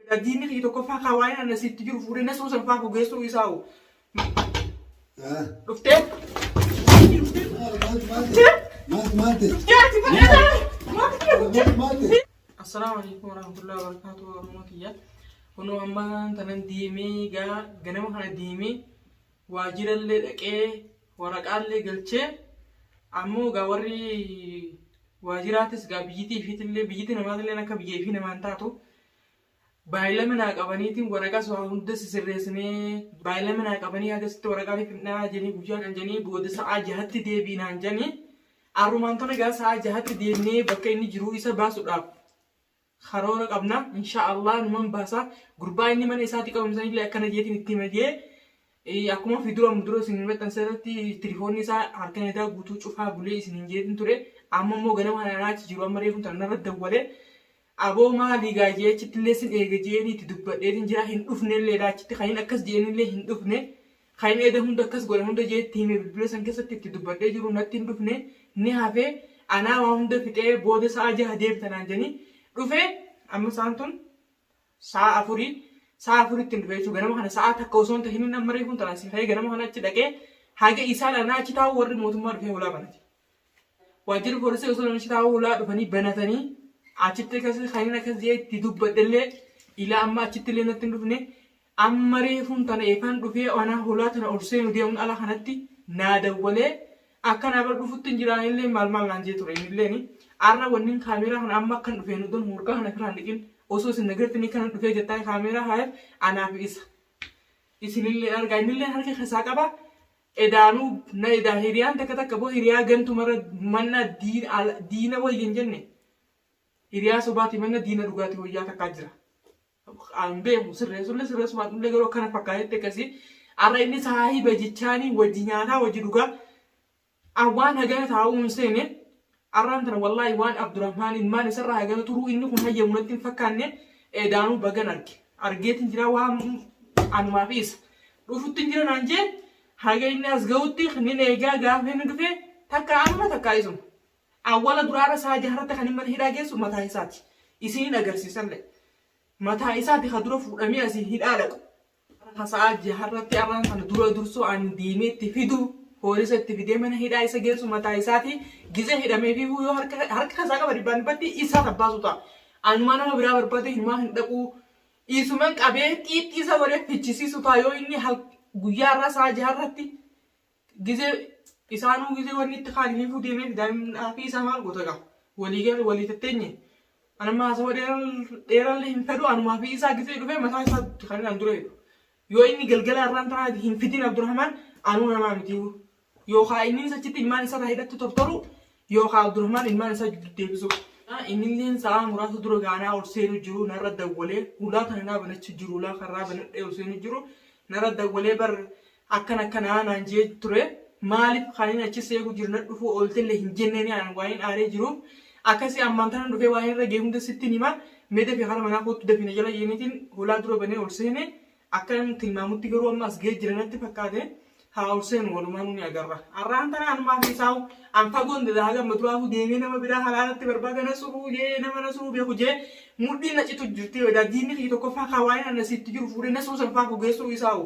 Egaa diinni kiyya tokkoffaa kaa waa'een anna siitti jiru fuudhee na suusan faa gogeessuu isaa hoo. Dhuftee? Diinni dhuftee? Dhuftee? Maaltu maaltu? Dhuftee ati bareedaa? Maaltu kiyya dhuftee? Maaltu maaltu? Assalaamu alaikum warahmatullahi wabarakatuh Oromoo kiyya. Kunoo amma tanan deemee gaa ganama kana deemee waajjirallee dhaqee waraqaallee galchee ammoo gaa warri waajjiraatis gaa biyyitii fiitillee biyyitii namaatillee akka biyya ifii namaan taatu Baay'ilama naa qabaniitiin waraqaa sora hunda sisirreessinee baay'ilama naa qabanii hagasitti waraqaa ni fidnaa janii guyyaa kan janii booda sa'aa jahatti deebii naan janii arrumaan tana gaa sa'aa jahatti deemnee bakka inni jiruu isa baasuudhaaf karoora qabna inshaa Allah numan baasa gurbaa inni mana isaatti qabamsan illee akkana jeetiin itti himajee akkuma fi dura mudura isin maxxansa irratti tilifoonni isaa halkan edaa guutuu cufaa bulee isin hin jeetiin ture amma immoo ganama kana naachi jiru amma reefu tana narra dawwalee Aboo maalii gaa jee achittillee sin eega jeeni itti dubbadheetin jira hin dhufnelleedha achitti kan hin akkas jeenillee hin dhufne kan eda hunda akkas godhan hunda jee itti hime bilbila san keessatti itti dubbadhee jiru natti hin dhufne ni hafe anaa waa hunda fixee booda sa'a jaha deebita naan janii dhufe amma sa'aan tun sa'a afurii sa'a afuritti hin dhufe jechuudha ganama kana sa'a takka osoo hin tahinin amma reefuun tanaan si ka'ee ganama kana achi dhaqee haga isaan anaa achi taa'u warri mootummaa dhufee hulaa banate. Waajjirri poolisii osoo namichi taa'uu ulaa dhufanii banatanii achitti akkas kanneen akkas jedhee itti dubbadhellee ilaa amma achitti illee natti hin dhufne amma reefuun tana eefaan dhufee anaa hulaa tana ol seenu deemuun ala kanatti naa dawwalee akka naa bar dhufutti hin jiraan illee maal maal naan jee ture illeen arra wannin kaameeraa kana amma akkan dhufee nu don morgaa kana firaan dhiqin osoo isin nagartanii kana dhufee jettaan kaameeraa haayef anaaf isa isinillee argaa innillee harka keessaa qaba Edaanuu na edaa hiriyaan takka takka boo hiriyaa gantu mara manna diin ala diina wayya hin jenne hiriyaa sobaati manna diina dhugaati wayyaa takkaa jira. An beeku sirreessulle sirreessu baadhullee garuu akkana fakkaatetti akkasii arra inni saahiba jechaanii wajji nyaataa wajji dhugaa an waan hagana taa'uu hin seene Arraan tana wallaahi waan Abdurahmaan ilmaan isarraa hagana turuu inni kun hayyamu natti hin fakkaanne eedaanuu bagan arge argeetin jira waan anumaa fi isa dhufuttin jira naan jee haga inni as ga'utti nin eegaa gaafa inni dhufe takka amma takka isuma awwala duraara isaa jaharratti kan mana hidhaa geessu mataa isaati isiniin agarsiisallee mataa isaati ka dura fuudhamee asiin hidhaa dhaqu Hasa'aa ji'a har'atti arraan tana dura dursoo ani deemee itti fidu poolisa itti fidee mana hidhaa isa geessu mataa isaati gizee hidhameefiifuu yoo harka harka isaa qaba dhibbaan dhibbatti isaa tabbaasu ta'a. Anumaa nama biraa barbaadee hinumaa hin dhaqu dhiisuman qabee xiixxii isa godhee fichisiisu ta'a yoo inni hal guyyaa irraa sa'a jaha irratti Gizee isaanuu gizee wanni itti kaani hiikuu deemeef daa'imni haafii isaa maal goota gaa walii gal walii tatteenye ani amma haasawa dheerallee hin fedhu anuma haafii isaa gizee dhufee mataa isaa kan an dura jedhu yoo inni galgala irraan tanaa hin fidin Abdurrahmaan anuu namaa miti yookaa inninis achitti ilmaan isaa irraa hidhatti tortoru yookaa Abdurrahmaan ilmaan isaa jidduu deebisu innilleen sa'aa muraasa dura gaanaa ol seenu jiru narra dawwalee hulaa kana naa banachu jiru hulaa karraa banadhee ol seenu jiru narra dawwalee bar akkana akkanaa naan je'e ture maalif kanin achi si eegu jiru nadhufuu ooltelle hin jenneeni an waanin aaree jiruuf akkasi ammaan tanan dhufee waan irra gahe hunda sittin hima mee dafii kara manaa koottu dafii na jala je'eenitiin hulaa dura banee ol seene akkanan tilmaamutti garuu amma as gahee jira natti fakkaate haa ol seenu walumaanuu ni agarra arraan tana anumaa fi isaawu an fagoon dada haga amma duraafuu deemee nama biraa halaalatti barbaada na suruu jee nama na suruu beeku jee mudhiin na citu jirti edaa diinni kiyya tokkoffaa kaa waanin anna sitti jiru fuudhee na suru san faa gogeessuu isaawu